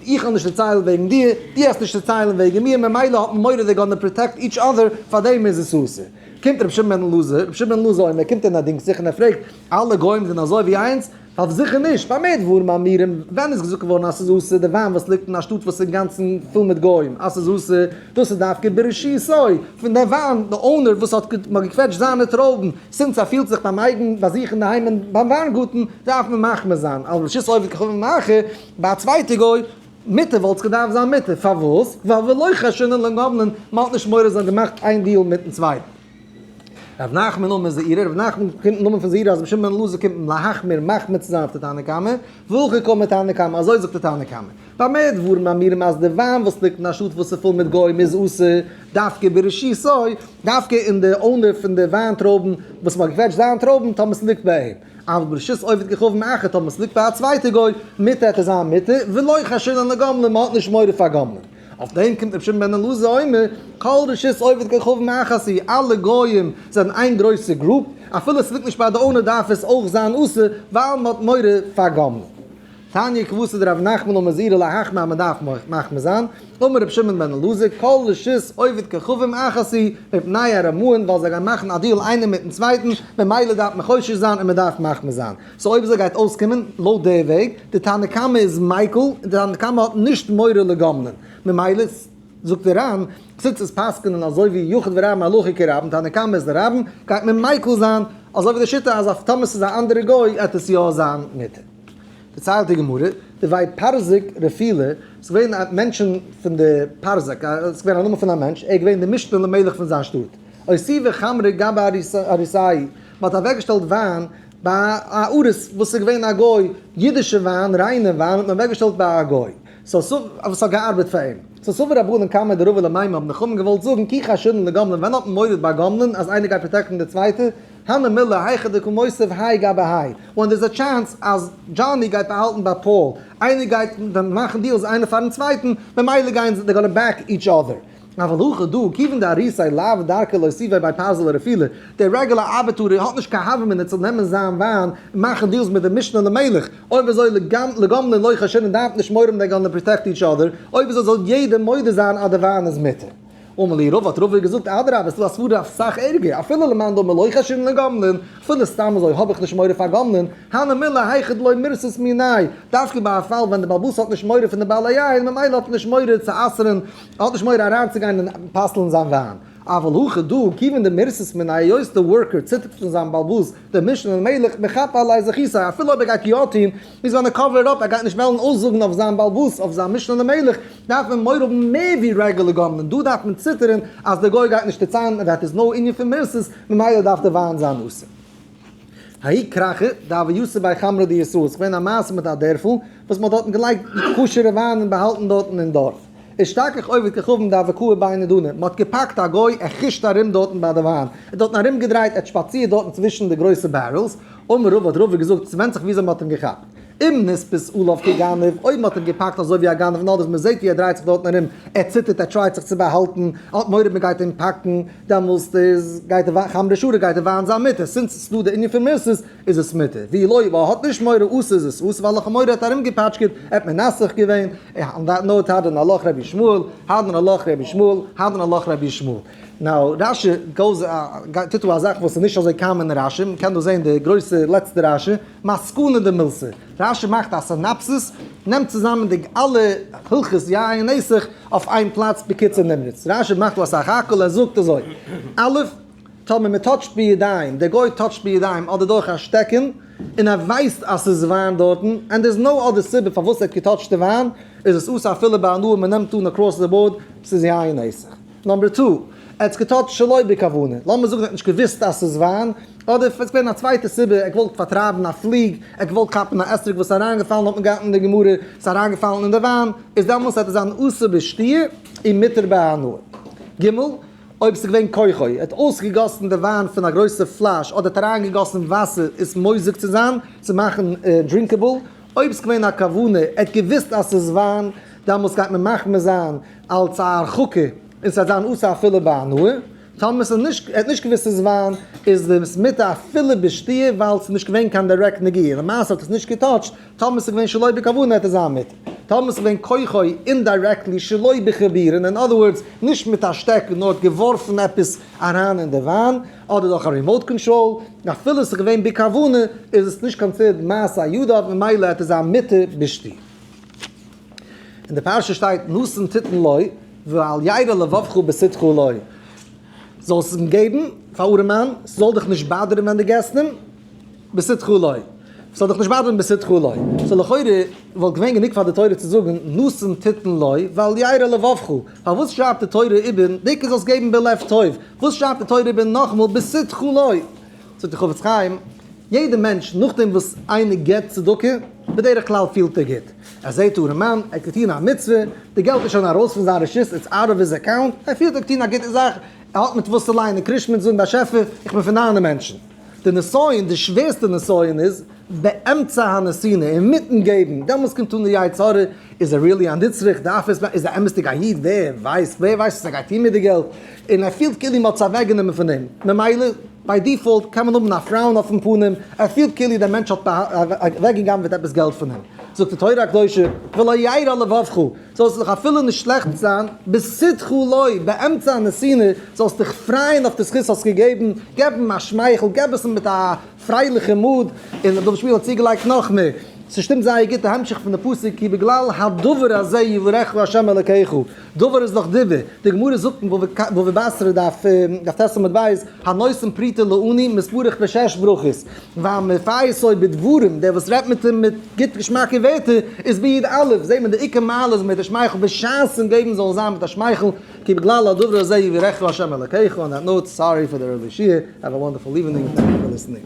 איך וועל נישט דערציילן וועגן דיר, דו האסט נישט צעציילן וועגן מיר, ממילא האט מען מורא זיי גאננע פראטעקט איטש אדער, פארדעם איז עס אסור. קומט רבי שמעון בן אלעזר, רבי שמעון בן אלעזר אומר, קומט ער און ער דינגט זיך און ער פרעגט, אלע גוים זענען אזוי ווי אינז? אויף זיכער נישט, פאר מער דברים האמורים, ווען איז געזאגט געווארן אז ס'איז אסור די וויין וואס ליגט אין א שטאט וואס איז אינגאנצן פול מיט גוים, אז ס'איז אסור, דאס איז דווקא בראשיתו, פון די וויין, די אונער וואס האט, מען האט געקוועטשט זיינע טרויבן, סינס ער פילט זיך ביים אייגן ביי זיך אינדערהיים אין ביים וויינגארטן, דארף מען מחמיר זיין, על ראשית עובד כחובה מאחר, ביי א צווייטע גוי, מותר וואלט עס געדארפט זיין מותר, פארוואס? ווייל ולא חשינן לן גבלין, מען האט נישט מורא זיי האבן געמאכט איין דיעל מיטן צווייטן. רבי נחמן נאמען איז זעירא, רבי נחמן קומט פון נאמען פון זעירא אז רבי שמעון בן אלעזר קומט להחמיר מחמיר צו זיין אויף די תנא קמא, והכי קמא תנא קמא, אזוי זאגט די תנא קמא. במה דברים אמורים אז די וויין וואס ליגט אין א שטאט וואס איז פול מיט גוים איז אסור דווקא בראשיתו, דווקא אין די אנהויב פון די וויין טרויבן וואס מען האט געקוועטשט זיין טרויבן, טאמער ס'ליגט ביי אים, אבל ברשות עובד ככוון אחר טאמער ס'ליגט ביי א צווייטע גוי, מותר ער זיין מותר, ולא חשינן לגמלים, מען האט נישט מורא פאר גמלים. אויף דעם קומט רבי שמעון בן אלעזר אומר, כל רשות עובד ככלב מאחת היא, אלע גוים זענען איין גרויסע גרופ, אפילו עס ליגט נישט ביי די אונער דארף עס אויך זיין אסור ווייל מען האט מורא פאר גמלים. תניא כבסד ר' נחמן אומר זהירה להחמיר אז מען דארף מחמיר זיין, אומר רבי שמעון בן אלעזר, כל רשות עובד ככלב מאחת היא, מפני הרמאן ווייל זיי גייען מאכן א דיעל איינער מיטן צווייטן, ממילא דארף מען חושש זיין און מען דארף מחמיר זיין. סאו אויב אזוי גייט אויסקומען לויט די וועג, די תנא קמא איז מיקל און די תנא קמא האט נישט מורא לגומלין, ממילא זאגט די רמ א זינט עס פסק'נען אזוי ווי יחד ורע מהלכי כרבן, תנא קמא איז די רבן, גייט מען מיקל זיין, אזוי ווי די שיטה אז אויף טאמער ס'איז א אנדערע גוי עט עס יא זיין מותר. דערציילט די גמרא, די ווייב פרזק רפילה, ס'איז געווען א מענטשן פון די פרזק, א ס'איז געווען א נאמען פון א מענטש, ער איז געווען די משנה למלך פון זיין שטאט, הוסיפה חמרי גבי אריסאי, מ'האט אוועקגעשטעלט וויין ביי א ארז וואס איז געווען א גוי, אידישע וויין, ריינע וויין, האט מען אוועק געשטעלט ביי א גוי, סא סא וואס האט געארבעט פאר אים, סא סא ווי רבנן קמי דרבה למימי האבן נחמה געוואלט זאגן כי חשדן לגומלין ווען האט מען מוריד ביי גומלין אז איינער גייט פראטעקטן די צווייטע, הנה מילה היכא דקא מוסיף האי גבי האי, ווען דער איז א טשענס אז דזשאני גייט באהאלטן ביי פאול, איינער גייט ווען מאכן דיעלס איינער פארן צווייטן, ממילא גייען זיי, דער גאנע בעק איטש אדער. אבל הוכה דא, כיוון דאריסאי לאו דרכה לא סיווי ביי פייזל אדער פילע, דער רעגולער ארבעטאר האט נישט קיין הווא מינוט צו נעמען זיין וויין און מאכן דיעלס מיט דעם משנה למלך, אויב אזוי לגומלין לא כשרין דארף נישט מורם דער גאלנער פראטעקט איטש אדער, אויב אזוי זאל יעדער מודה זיין אז דער וויין איז מותר. אמר לי רבא האט רבא געזאגט אדרבה עס איז דא א סברא אויף סאך ערגער, אפילו למאן דאמר לא כשרין לגומלין, אפילו סתם אזוי האב איך נישט מורא פאר גומלין, הנה מילה היכי דלא מירסת מיני', דווקא ביי א פאל ווען דער בעל באס האט נישט מורא פון די בעלי יין ממילא האט ער נישט מורא צו אסר'ן, ער האט נישט מורא אריינצוגיין און פסל'ן זיין וויין, אבל הכא דא כיוון די מרסס מן היות די ווארקער ציטערט פון זיין באלבאס דער משנה למלך מחפה עלי זכיסי אפילו אויב ער גייט יא טוהן מוז ווען ער קאווער אפ ער גייט נישט וועלן אויסזאגן אויף זיין באלבאס אויף זיין משנה למלך דארף מען מורא האבן מער ווי רעגולער גאווערמענט דא דארף מען ציטערן אז די גוי גייט נישט שטיצען דעט איז נאו ענין פון מרסס ממילא דארף די וויין זיין אסור. האי קרחא דהוה יסא ביי חמרא דיסא איז געווען א מעשה מיט א דערפל וואס מען האט דארטן געלייגט כשר'ע וויין און באהאלטן דארטן אין דארף. איז שטארק איך עובד ככבן די אוואקאע ביי נדנים, מען האט געפאקט א גוי ער חוש'ט ארום דארטן ביי די וויין, ער האט דארטן ארום געדרייט, ער האט שפאצירט דארטן צווישן די גרויסע בערעלס, אמר רב האט רב געזאגט ס'ווענדט זיך וויאזוי מען האט אים געכאפט, אם נתפס עליו כגנב, אויב מען האט אים געפאקט אזוי ווי א גנב נאר וואס מען זעט ווי ער דרייט זיך דארטן ארום, ער ציטערט ער טרייט זיך צו באהאלטן, ער האט מורא מען גייט אים פאקן, דעמאלסט איז גייט די וויין חמרא שרא גייט די וויין זיין מותר, סינס ס'איז דא די ענין פון מרסס, איז עס מותר, ווי לוי וואו ער האט נישט מורא אסור איז עס אסור, וועלכע מורא האט ארומגעפאטשקעט, ער האט מנסך געווען, און דעט נאוט הארד אן הלוך רבי שמואל, הארד אן הלוך רבי שמואל, הארד אן הלוך רבי שמואל. נאו, רש י גאוס א, טוט דא א זאך וואס איז נישט אזוי קאמאן אין רש י, מ'קען דא זעהן די גרויסע לעצטע רש י, מסקנא דמילסא, רש י מאכט א סינאפסיס, נעמט צוזאמען די אלע הלכות יין נסך אויף איין פלאץ בקיצור נמרץ, רש י מאכט דא אסאך האקעלע, ער זאגט אזוי, א', טאמער מען טאטשט בידיים, דער גוי טאטשט בידיים אדער דורך א שטעקן, און ער ווייסט אז ס'איז וויין דארטן, ענד דער איז נאו אדער סיבה פארוואס ער האט געטאטשט די וויין, איז עס אסור אפילו ביי הנאה, מען נעמט אן אקראס די באורד, ס'איז יין אסור. נאמבער טו, ער האט עס געטאטשט שלא בכוונה, לאמיר זאגן ער האט נישט געוואוסט אז ס'איז וויין, אדער עס איז געווען א צווייטע סיבה, ער האט געוואלט פארטרייבן א פליג, ער האט געוואלט כאפן א אתרוג וואס איז אריינגעפאלן האט מען געהאט אין די גמרא, ס'איז אריינגעפאלן אין די וויין, איז דעמאלס וועט עס זיין אסור בשתייה און מותר בהנאה. ג. אויב ס'איז געווען כוחו, ער האט אויסגעגאסן די וויין פון א גרויסע פלאש אדער האט אריינגעגאסן וואסער עס מוזג צו זיין, צו מאכן דרינקעבל, אויב ס'איז געווען א כוונה, ער האט געוואוסט אז ס'איז וויין, דאמאלס גייט מען מחמיר זיין אלס א הרחקה און ס'וועט זיין אסור אפילו ביי הנאה, טאמער ס'איז נישט, ער האט נישט געוואוסט ס'איז וויין, איז עס מותר אפילו בשתיה ווייל ס'איז נישט געווען קיין דירעקט נגיעה, למעשה האט עס נישט געטאטשט, טאמער ס'איז געווען שלא בכוונה העט ער זיין מיט. טאמער ס'איז געווען כוחו אינדירעקטלי שלא בכווירן אין אדער ווארדס נישט מיט א שטעקן נאר האט געווארפן עפעס אריין אין די וויין אדער דורך א רימאוט קאנטראל אפילו ס'איז געווען בכוונה איז עס נישט קאנסידערט מעשה ידיו ממילא העט ער זיין מיתה בשתי. אין די פרשה שטייט נשׂים תתן לו ואל ירע לבבך בשׂתך לו זאלסט אים געבן פאר ארעמען ס'זאל דיך נישט באדערן ווען דו געסט אים. בשׂדך לוי. ס'זאָל דיך נישט באַדערן בשׂדך לוי. סאָ לכאורה וואָלט געווען גענוג פֿאַר דער תּורה צו זאָגן נשׂים תּיתּן לוי ואל ירע לבֿבֿך. פֿאַרוואָס שרײַבט די תּורה איבער דיקער זאָלסט געבן בלב טובֿ? וואָס שרײַבט די תּורה איבער נאָך מאָל בשׂדך לוי? זאָגט דער חפֿץ חיים, יעדער מענטש נאָך דעם וואָס איינער גיט צדקה, בדרך כּלל פֿילט ער גוט. ער זעט אָרעמאַן, ער קען טאָן אַ מצווה, די געלט איז שוין אַרויס פֿון זײַן רשות, איטס אַוט אָוו היז אַקאַונט, ער פֿילט ער האָט געטאָן אַ גוטע זאַך, ער האָט מיט וואָס צו לייענען קרישמעט, זאָגן באַשעפֿער, איך בין פֿון דײַנע מענטשן. די נסיון, די שווערסטע נסיון איז באמצע הנתינה, אינמיטן געבן, דעמאלס קומט אן די יצה ר, איז ער ריעלי א נצרך, דארף ער עס, איז ער אמת'דיג א איד, ווער ווייסט, ווער ווייסט וואס ער גייט טון מיט די געלט, און ער פילט כאילו מ'האט עס אוועקגענומען פון אים, ממילא ביי דיפאלט קען מען האבן א פראון אויפן פנים, ער פילט כאילו דער מענטש האט אוועקגע'גנב'עט עפעס געלט פון אים. זאגט די תורה הקדושה, ולא ירע לבבך, זאלסט זיך אפילו נישט שלעכט זיין, בשתחו לוי, באמצע א נסינה, זאלסט דיך פרייען אויף די זכות האסט געגעבן, געב אים א שמייכל, געב עס מיט א פרייליכע מוד, און רבי דוד שפירא האט צוגעלייגט נאך מער, ס'שטימט זייער גוט די המשך פון די פסוק כי בגלל הדבר הזה יברכך ה' אלקיך, דבר איז דאך דיבור, די גמרא זאגט אין בבא בתרא דף טז עמוד ב', הנושאים פריתא לעני מתברך בשש ברכות, ווייל מפייס לוי בדברים, דער וואס רעדט מיט אים מיט גוט געשמאקע ווערטער, איז ביד א', זעט מען די עיקר מעלה איז מיט די שמייכל, בשעת אים געבן זאל זיין מיט א שמייכל, כי בגלל הדבר הזה יברכך ה' אלקיך, אן א נאוט, סארי פאר די ארלי שיעור, העוו א וואנדערפול איווענינג, טענק יו פאר ליסענינג.